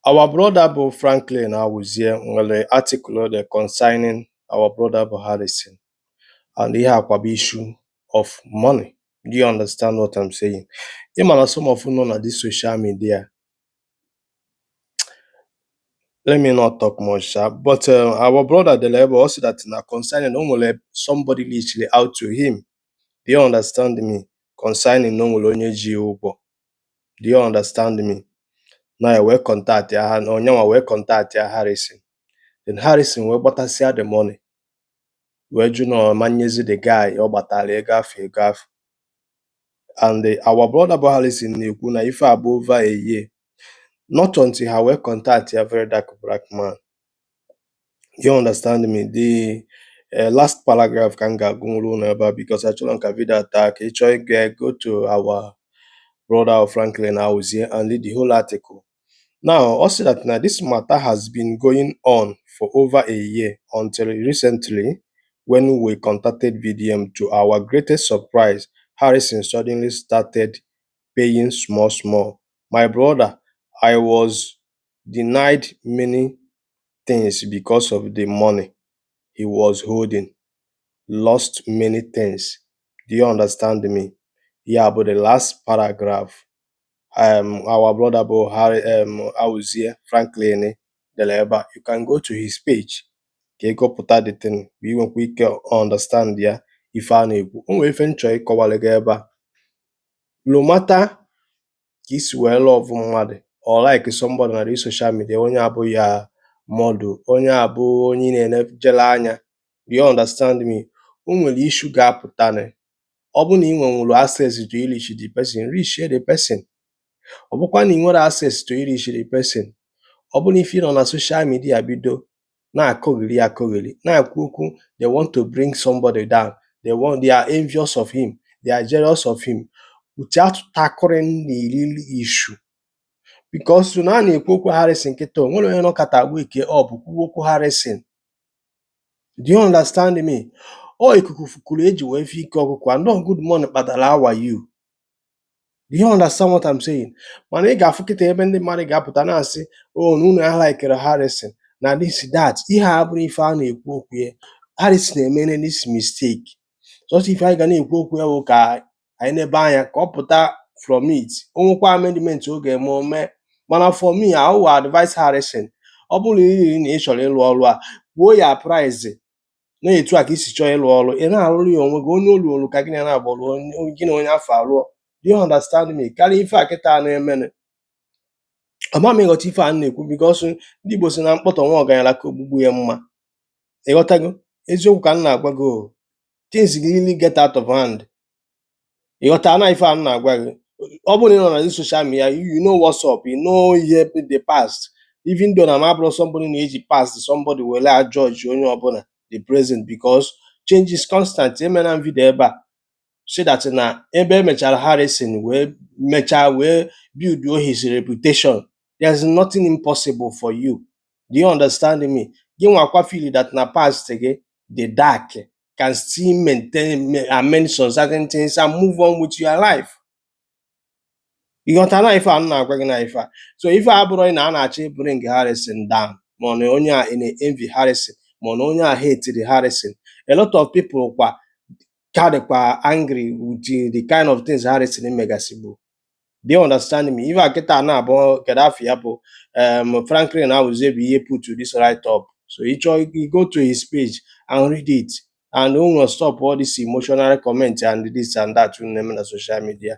Our brother bụ Franklin Awuzie nwere article o dere concerning our brother bụ Harrison and ihe a kwa bụ issue of money. Do you understand what I'm saying? Ị ma na some of you nọ na this social media let me not talk much sha but uh, our brother dere ebe ọ sị that na concerning o nwere somebody reached out to him. Do you understand me? Concerning na o nwere onye ji ya ụgwọ. Do you understand me? na ya wee contactia ha na onye nwa wee contactia Harrison then Harrison wee gbatasịa the money wee jụ na ọ ma nyezi the guy ọ gbatara ego afụ ego afụ and the, our brother bụ Harrison na-ekwu na ife a bụ over a year not until ha wee contactia Very Dark Black Man you understand me the uh, last paragraph ka m ga-agụnwuru unu ebe a because achọrọ m ka vidio taa ka ị chọọ ịga go to our brother Franklin Auzie and read the whole article now ọ sị that na this matter has been going on for over a year until recently when we contacted VDM to our greatest surprise Harrison suddenly started paying small small my brother I was denied many things because of the money he was holding, lost many things do you understand me ya bụ the last paragraph um our brother bụ Harry um Awuzie Franklin dere ebe a you can go to his page ka ị gụpụta the thing ka ị nwekwa ike understand ya ife a na-ekwu o nwere ife m chọrọ ịkọwara gị ebe a no matter ka i si wee love mmadụ or like somebody na this social media onye a bụ your model onye a bụ onye ị na-enejele anya do you understand me o nwere issue ga-apụtanị ọ bụ na ị nwenwuru access to reach the person reach the person ọ bụkwa na ị nwere access to reach the person ọ bụ na ife ị nọ na social media bido na-akọgheri akọgheri, na-ekwu okwu, they want to bring somebody down, they want, they are envious of him, they are jealous of him. Without tackling the real issue because na a na-ekwu okwu Harrison kịta o nwere onye nọkata wake up kwuo okwu Harrison. Do you understand me? Ọ ikuku fukuru e ji wee fụ ike ọkụkọ. And uh, good morning Kpadara how are you? do you understand what I'm saying mana ị ga-afụ kịta ebe ndị mmadụ ga-apụta na-asị o oh, na unu alikerọ Harrison na this that ihe a abụrọ ife a na-ekwu okwu ya Harrison emere this mistake sọsọ ife anyị ga na-ekwu okwu ya bụ ka anyị nebe anya ka ọ pụta from it o nwekwa amendment ọ ga-eme o mee mana for me I will advise Harrison ọ bụrụ na ị chọrọ ịlụ ọrụ a kwuo ya price na etu a ka i si chọọ ịlụ ọrụ ị na-alụrụ ya onwe gị onye o luolu aka gị na na-agbọrụ gị na onye afụ alụọ do you understand me karịa ife a kịta na-emenụ ama m ị ghọta ife a na-ekwu because ndị Igbo sị na mkpọtọ nwa ọgaranya ka ogbugbu ya mma ị ghọtago eziokwu ka m na-agwa gị o things really get out of hand ị ghọtana ife a m na-agwa gị ọ bụrụ na ị nọ na social media you know what's up you know ihe the past even though na m abụrọ somebody na-eji past somebody were a-judge onye ọbụla the present because change is constant emena m video ebe a so that na ebe emechara Harrison wee mechaa wee build his reputation there's nothing impossible for you do you understand me gịnwa kwa feel that na past gị dị dark can still mend amend some certain things and move on with your life. Ị ghọtana ife a m na-agwa gị na ife a so ife a abụrọ na a na-achọ ị bring Harrison down ma ọ na onye a na-envy Harrison ma ọ na onye a hate-iri Harrison a lot of people kwa ka dịkwa angry with the kind of things Harrison megasịbu do you understand me ife a kịta na-abụ kedu afa ya bụ um, Franklin Awuzie bụ ihe put this write-up so ị chọọ ị go to his page and read it and unu stop all this emotional comment and this and that unu na-eme na social media